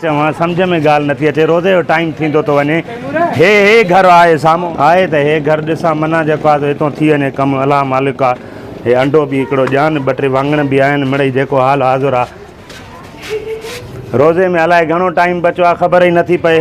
چوان سمجهه ۾ ڳالهه نٿي اچي روزي جو ٽائيم ٿيندو ٿو وڃي هي هي گهر آهي سامهو آهي ته هي گهر ڏسان منا جيڪو آهي سو هتو ٿي وڃي ڪم الله مالڪ آ هي انڊو به هڪڙو ڄان ٻه ٽي واڱڻ به آهن مڙئي جيڪو حال حاضر آ روزي ۾ الائي گهڻو ٽائيم بچو آ خبر ئي نٿي پئي.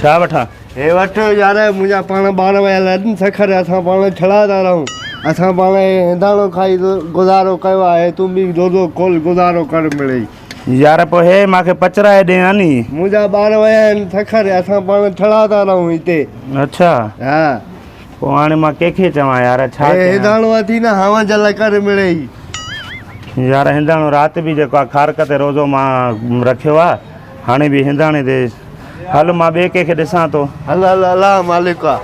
ڇا وٺان؟ هي وٺ يار منهنجا پاڻ ٻار ويل آهن سکر اسان پاڻ ڇڙا ٿا رهون اسان پاڻ هي هنداڻو کائي گذارو ڪيو آهي تون به دودو کول گذارو ڪر مڙئي. يار پوء هي مان کي پچرائي ڏي ها ني. منهنجا ٻار ويا آهن سکر اسان پاڻ ڇڙا ٿا رهون هتي. اڇا ها. پوء هاڻي مان ڪنهن کي چوان يار ڇا ڪيان. هي هنداڻو اٿي نه هانء جل ڪر مڙئي. يار هنداڻو رات به جيڪو آ کارڪ تي روزو مان رکيو آ. هاڻي به هنداڻي تي هل مان ٻئي ڪنهن کي ڏسان ٿو. هل هل الله مالڪ آ.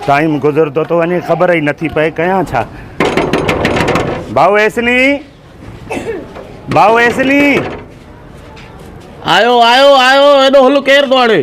ٽائيم گذرندو ٿو وڃي خبر ئي نٿي پئي ڪيان ڇا. ڀائو ايسني ڀائو ايسني. آيو آيو آيو ايڏو هل ڪير ٿو آڻي.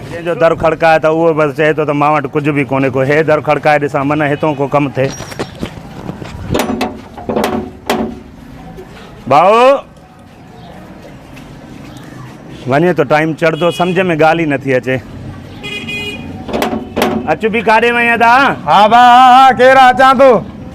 جنهن جو در کڙڪائي ته اهو بس چئي ٿو ته مان وٽ ڪجهه به ڪونهي ڪو هي در کڙڪائي ڏسان منه هتون ڪو ڪم ٿئي. ڀائو! وڃي ٿو ٽائيم چڙهندو سمجهه ۾ ڳالهه ئي نٿي اچي. اچ به ڪاڏي وئين ادا؟ ها ڀاء ها ها ڪير آ اچان ٿو.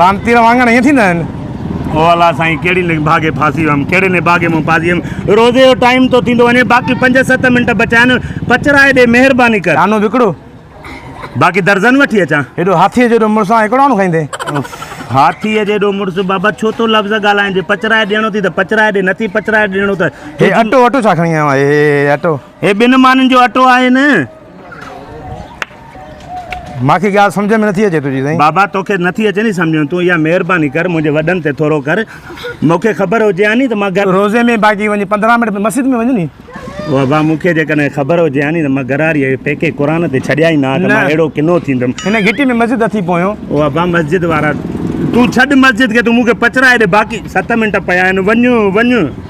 لعنتيء وانگر ائين ٿيندا آهن. او الله سائين ڪهڙي نڀاڳي ڦاسي ويم ڪهڙي نڀاڳي مان پاسي ويم روزي جو ٽائيم ٿو ٿيندو وڃي باقي پنج ست منٽ بچايا نه پچرائي ڏي مهرباني ڪر. آنو وڪڙو. باقي درزن وٺي اچان. هيڏو هاٿيء جيڏو مڙس آن هڪڙو آنو کائيندين. اف هاٿيء جيڏو مڙس بابا ڇو ٿو لفظ ڳالهائين جي پچرائي ڏيڻو ٿي ته پچرائي ڏي نٿي پچرائي ڏيڻو ته هي اٽو اٽو ڇا کڻي آيو آهي هي اٽو. هي ٻن مانين جو اٽو آهي نه. مان کي ڳالهه سمجهه ۾ نٿي اچي تنهنجي سائين. بابا توکي نٿي اچي ني سمجهه تون اها مهرباني ڪر منهنجي وڏن تي ٿورو ڪر مونکي خبر هجي ها ني ته مان گهر. روزي ۾ باقي وڃ پندرهن منٽ مسجد ۾ وڃ ني. بابا مونکي جيڪڏهن خبر هجي ها ني ته مان گهراڙيء کي پيڪي قرآن تي ڇڏيا ئي نه ها ته مان اهڙو ڪنو ٿيندم. هن گهٽي ۾ مسجد اٿئي پويون. او ابا مسجد وارا تون ڇڏ مسجد کي تون مونکي پچرائي ڏي باقي ست منٽ پيا آهن وڃ وڃ.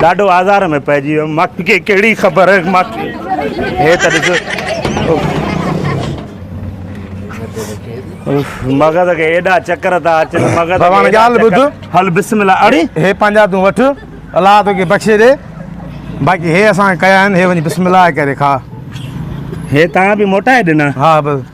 ڏاڍو آزار ۾ پئجي ويم مان کي ڪهڙي خبر مان هي ته ڏسو مغز کي ايڏا چڪر ٿا اچن مغز ڀڳوان ڳالهه ٻڌ هل بسم الله اڙي هي پنهنجا تون وٺ الله توکي بخشي ڏي باقي هي اسان ڪيا آهن هي وڃي بسم الله ڪري کاء هي تان به موٽائي ڏنا ها بس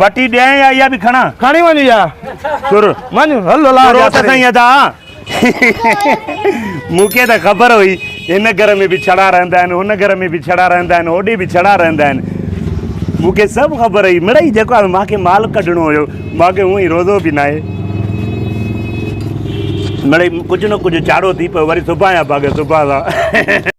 وٽي ڏيان يا اها به کڻان. کڻي وڃ اها سر. وڃ هل هلان جا ٿري. سائين ادا مون کي ته خبر هئي هن گهر ۾ به ڇڙا رهندا آهن هن گهر ۾ به ڇڙا رهندا آهن هوڏي به ڇڙا رهندا آهن مون کي سڀ خبر هئي مڙئي جيڪو آهي مان کي مال ڪڍڻو هيو مان کي هونئن روزو به ناهي مڙئي ڪجهه نه ڪجهه چاڙهو ٿي پيو وري سبايان باغ سبايان